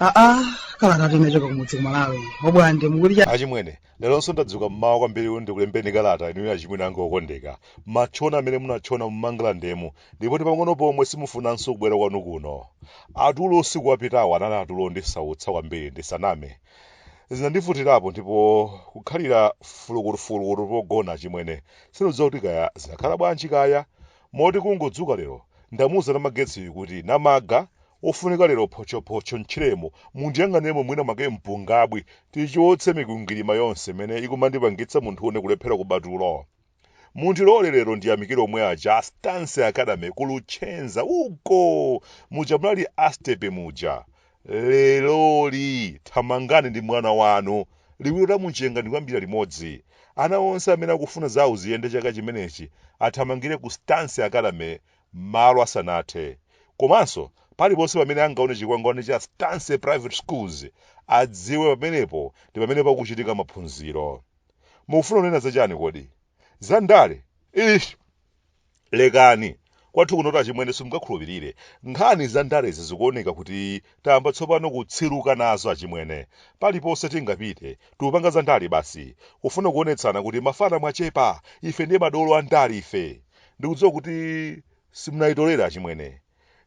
aa kalata tinachoka kumudzi kumalawi obwande mu achimwene leronso ndadzuka mmawa kwambiri kuti ndikulembeni kalata inuyo achimwene anga okondeka matchona amene munatchona mumangalandemo Ndipo ndi pang'ono pomwe simufunanso kubwera kwanu kuno. Tulo usiku wapitawu anali atulo ondisautsa kwambiri ndisaname. Zinandivutirapo ndipo kukhalira fulukutufulukutu pogona achimwene sindidziwa kuti kaya zinakhala bwanji kaya. Moti kungodzuka lero ndamuuza Namagetsiyu kuti, Namaga, wofunika lero photchophotcho m'tchiremo mundiyang'aniremo mwina mwake mpungabwi tichotse mikwingwirima yonse imene ikumandipangitsa munthu une kulephera kuba tulo. Mundilole lero ndiyamikire omwe aja a Stance Academy ku Luchenza uko muja munali astepe muja. Leroli thamangani ndi mwana wanu liwiro la mtondo wadooka kuyambira limodzi. Ana onse amene akufuna zawo ziyende chaka chimenechi athamangire ku Stance Academy malo asanathe. Komanso paliponse pamene angaone chikwangwani cha Stance Private Schools adziwe pamenepo ndi pamene pakuchitika maphunziro. Mukufuna kunena za chani kodi? Za ndale? Ish! Lekani. Kwathu kunotu achimwene simungakhulupirire. Nkhani za ndalezi zikuoneka kuti tayamba tsopano kutsiluka nazo achimwene. Paliponse tingapite, tikupanga za ndale basi. Kufuna kuonetsana kuti mafana mwachepa, ife ndiye madolo a ndale ife. Ndikudziwa kuti simunayitolere achimwene.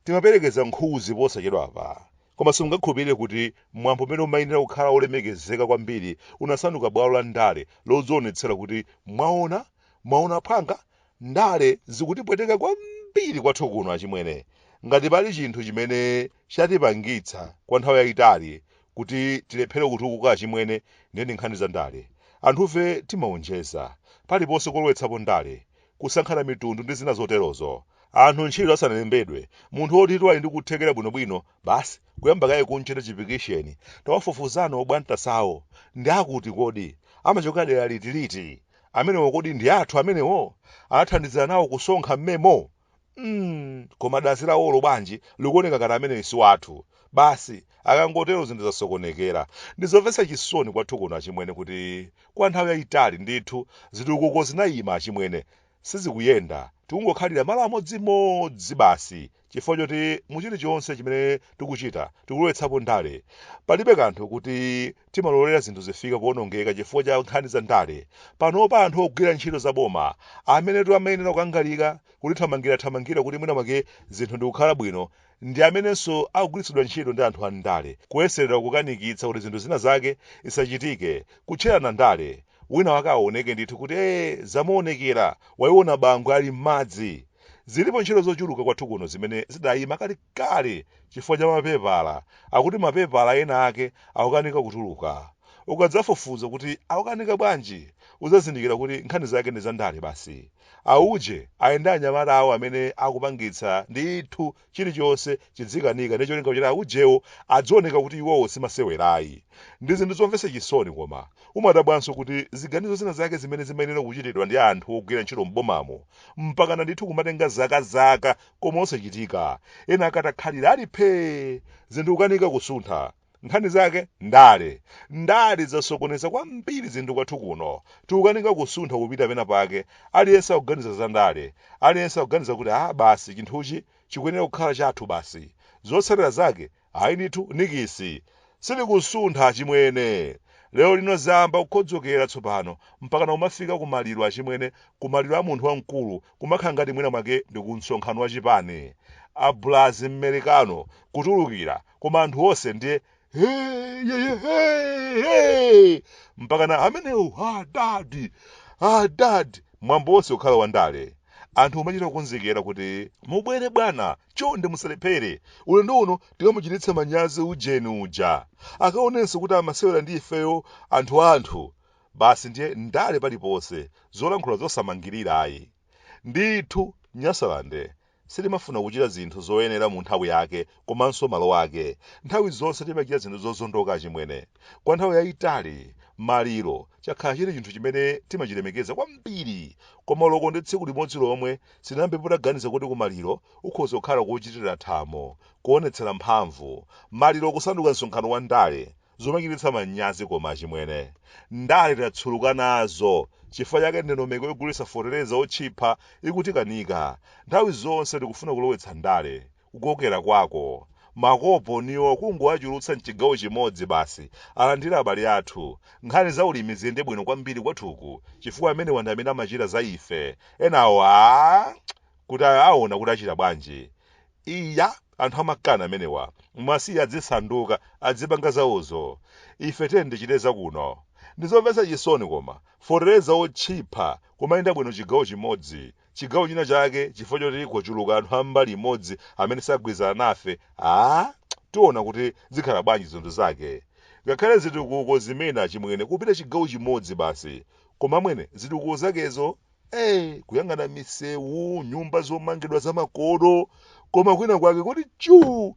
Timaperekeza nkhuzi posachedwapa. Koma simungakhulupirire kuti mwambo umene umayenera kukhala wolemekezeka kwambiri unasanduka bwalo la ndale lodzionetsera kuti, Mwaona? Mwaona aphwanga? Ndale zikutipweteka kwambiri kwathu kuno achimwene. Ngati pali chinthu chimene chatipangitsa kwa nthawi yaitali kuti tilephere kutukuka achimwene, ndiye ndi nkhani za ndale. Anthufe timaonjeza. Paliponse kolowetsapo ndale. kusankhana mitundu ndi zina zoterozo. Anthu ntchito asanalembedwe, munthu wotitu ali ndi kuthekera bwinobwino, basi kuyamba kaye kumchita chipikisheni, tawafufuzani obwantasawo, ndi akuti kodi? Amachokera dera liti liti? Amenewo kodi ndi athu amenewo? Anathandizira nawo kusonkha m'memo? mm, koma dzina lawolo bwanji likuoneka ngati ameneyo si wathu basi akangotero zinthu zasokonekera ndizomvetsa chisoni kwathu kuno achimwene kuti kwa nthawi yayitali ndithu zitukuko zinayima achimwene sizikuyenda tikungokhalira malo amodzimodzi basi chifukwa choti mu chilichonse chimene tikuchita tikulowetsapo ndale palibe kanthu kuti Timalolera zinthu zifike powonongeka chifukwa cha nkhani za ndale. Panopa anthu ogwira ntchito za boma, amenetu amayenera kukangalika, kutithamangirathamangira kuti mwina mwake zinthu ndikukhala bwino, ndi amenenso akugwiritsidwa ntchito ndi anthu a m'ndale, kuyeserera kukanikitsa kuti zinthu zina zake zisachitike, kutcherana ndale, wina wake awoneke ndithu kuti ee, zamuonekera, waiona Bangwe ali m'madzi. Zilipo ntchito zochuluka kwathu kuno zimene zidayima kale. kale chifukwa cha mapepala akuti mapepala ena ake akukanika kutuluka. Ukadzafufuza kuti akukanika bwanji, udzazindikira kuti nkhani zake ndi zandale basi. A uje ali ndi anyamata awo amene akupangitsa ndithu chilichonse chizikanika ndi cholinga choti a ujewo azioneka kuti iwowo si masewera ayi. Ndi zinthu zomvetsa chisoni koma umadabwanso kuti ziganizo zina zake zimene zimayenera kuchitidwa ndi anthu ogwira ntchito m'bomamo mpakana ndithu kumatenga zakazaka koma osachitika ena akatakhalira ali phee zinthu kukanika kusuntha nkhani zake ndale ndale zasokoneza kwambiri zinthu kwathu kuno tikukanika kusuntha kupita pena pake aliyense akuganiza za ndale aliyense akuganiza kuti a basi chinthuchi chikuyenera kukhala chathu basi zotsatira zake Ayi ndithu dziko silikusuntha achimwene. Lero lino zayamba kukhodzokera tsopano mpakana kumafika ku maliro achimwene ku maliro a munthu wamkulu kumakhala ngati mwina mwake ndi ku msonkhano wa chipani. A bulazi mmerikano kutulukira koma anthu onse ndiye Hey, yeah, yeah, hey, hey! mpakana amenewo adadi adadi mwambo wonse kukhala wa ndale anthu kumachita kukonzekera kuti mubwere bwana Chonde musalephere. Ulendo uno tikamuchititse manyazi ujeni uja. Akaonenso kuti amasewera ndi ifeyo anthuanthu. Basi ndiye ndale paliponse, zolankhula zosamangirira ayi. Ndithu, Nyasaland sitimafuna kuchita zinthu zoyenera mu nthawi yake komanso malo ake. Nthawi zonse timachita zinthu zozondoka achimwene. Kwa nthawi yaitali, maliro chakhala chili chinthu chimene timachilemekeza kwambiri. Koma olo ndi tsiku limodzi lomwe Sindinayambepo ndaganiza kuti kumaliro ukhoza kukhala kochitira thamo, kuonetsera mphamvu, maliro kusanduka msonkhano wa ndale, zomachititsa manyazi koma achimwene. Ndale tatsuluka nazo chifukwa chake ndondomeko yogulitsa feteleza otchipha ikutikanika. Nthawi zonse tikufuna kulowetsa ndale kukokera kwako. Makoponiwo kungowachulutsa mchigawo chimodzi basi alandire abale athu. Nkhani za ulimi ziyende bwino kwambiri kwathuku chifukwa amenewa ndi amene amachita za ife. Enawo aah! kaya aona kuti achita bwanji. Iya! anthu amakani amenewa. Muwasiye azisanduka, azipanga zawozo. Ife tiyeni tichite za kuno. Ndizomvetsa chisoni koma, feteleza wotchipha kumayenda bwino chigawo chimodzi. chigawo china chake chifukwa choti kwachuluka anthu a mbali imodzi amene sagwirizana nafe, tiona kuti zikhala bwanji zinthu zake. Ngakhale zitukuko zimene achimwene kupita chigawo chimodzi basi. Koma amwene zitukuko zakezo ee kuyang'ana misewu, nyumba zomangidwa zamakono koma kwina kwake kuti chuu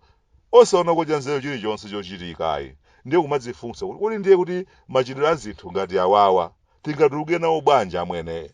osaonako chanzeru chilichonse chochitika ayi. Ndiye kumadzifunsa kuti kodi ndiye kuti machitidwe a zinthu ngati awawa tingatuluke nawo bwanji amwene?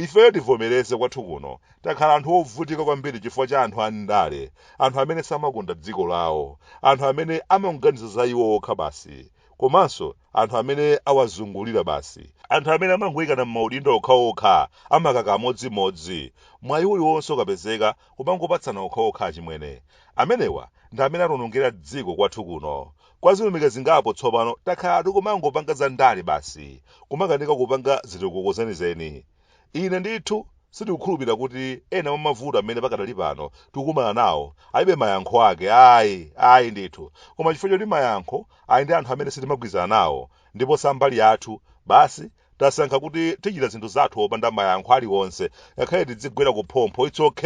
Ifeyo tivomereze kwathu kuno takhala anthu ovutika kwambiri chifukwa cha anthu andale, anthu amene samakonda dziko lawo, anthu amene amangoganiza za iwo okha basi, komanso anthu amene awazungulira basi, anthu amene amangoikana m'maudindo okhaokha amakaka amodzimodzi, mwayi uliwonse ukapezeka kumangopatsana okhaokha achimwene. Amenewa ndi amene atiwonongera dziko kwathu kuno. Kwa zilumika zingapo tsopano takhala tikumangopanga za ndale basi, kumakanika kupanga zitukuko zenizeni. Ine ndithu sindikukhulupirira kuti ena mwa mavuto amene pakadali pano tikukumana nawo alibe mayankho ake, ayi, ayi ndithu, koma chifukwa choti mayankho ali ndi anthu amene sitimagwirizana nawo ndipo sambali yathu, basi Tasankha kuti tichita zinthu zathu opanda mayankho aliwonse ngakhale tidzigwera ku phompho it's ok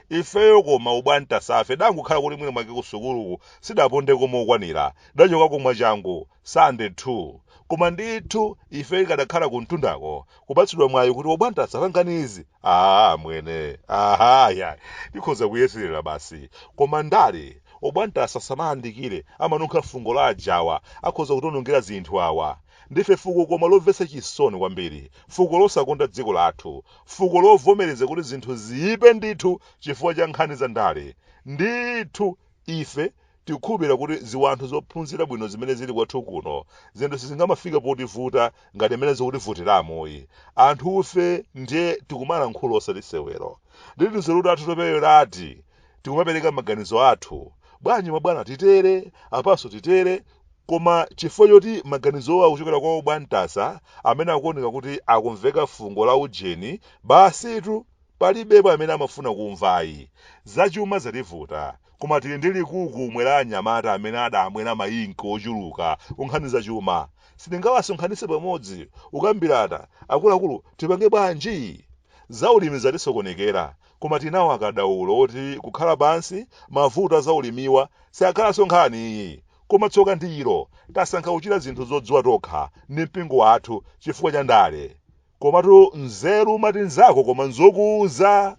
ifeyo koma obwantasafe tangokhala kuti mwina mwake ku sukuluku sitidapondeko mokwanira tidachokako mwachangu Standard 2 koma ndithu ifeyo ikadakhala kumtundako kupatsidwa mwayi kuti obwantasa pangani izi aa amwene aha ya tikhoza kuyeserera basi koma ndale obwantasa asamayandikire amanunkha fungo la ajawa akhoza kutionongera zinthu awa Ndife fuko koma lomvetsa chisoni kwambiri, fuko losakonda dziko lathu, fuko lovomereza kuti zinthu ziipe ndithu chifukwa cha nkhani za ndale. Ndithu ife tikukhulupirira kuti ziwanthu zophunzira bwino zimene zili kwathu kuno, zinthu sizingamafike potivuta ngati mmene zikutivutiramu ayi. Anthufe ndiye tikumalankhula osati sewero. Ndithu tinzeru tathu toperewerati. tikumapereka maganizo athu, bwanji mabwana titere, apanso titere, koma chifukwa choti maganizowo akuchokera kwa obwantasa amene akuoneka kuti akumveka fungo la ujeni, basitu palibepo amene amafuna kumva ayi. Zachuma zativuta, koma tili ndi chikhamu cha anyamata amene adamwera maink ochuluka kunkhani zachuma. Sitingawasonkhanitse pamodzi kukambirana, akuluakulu tipange bwanji? Zaulimi zatisokonekera, Koma tili nawo akadaulo oti kukhala pansi, mavuto a zaulimiwa sakhalanso nkhani ayi. Koma tsoka ndi ilo, tasankha kuchita zinthu zodziwa tokha ndi mpingo wathu chifukwa cha ndale. Komatu nzeru umati nzako koma nzokuuza!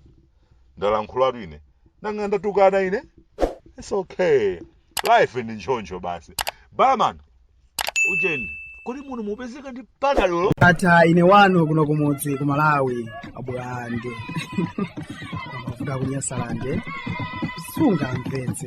Ndalankhulatu ine. Nanga ndatukana ine? It's okay. Life ndi ntchoncho basi. Barman! ujeni kodi muno mupezeka ndi panadolo ata ine kwanu kuno kumudzi ku malawi abwande kuda kunyasalande sungamvetse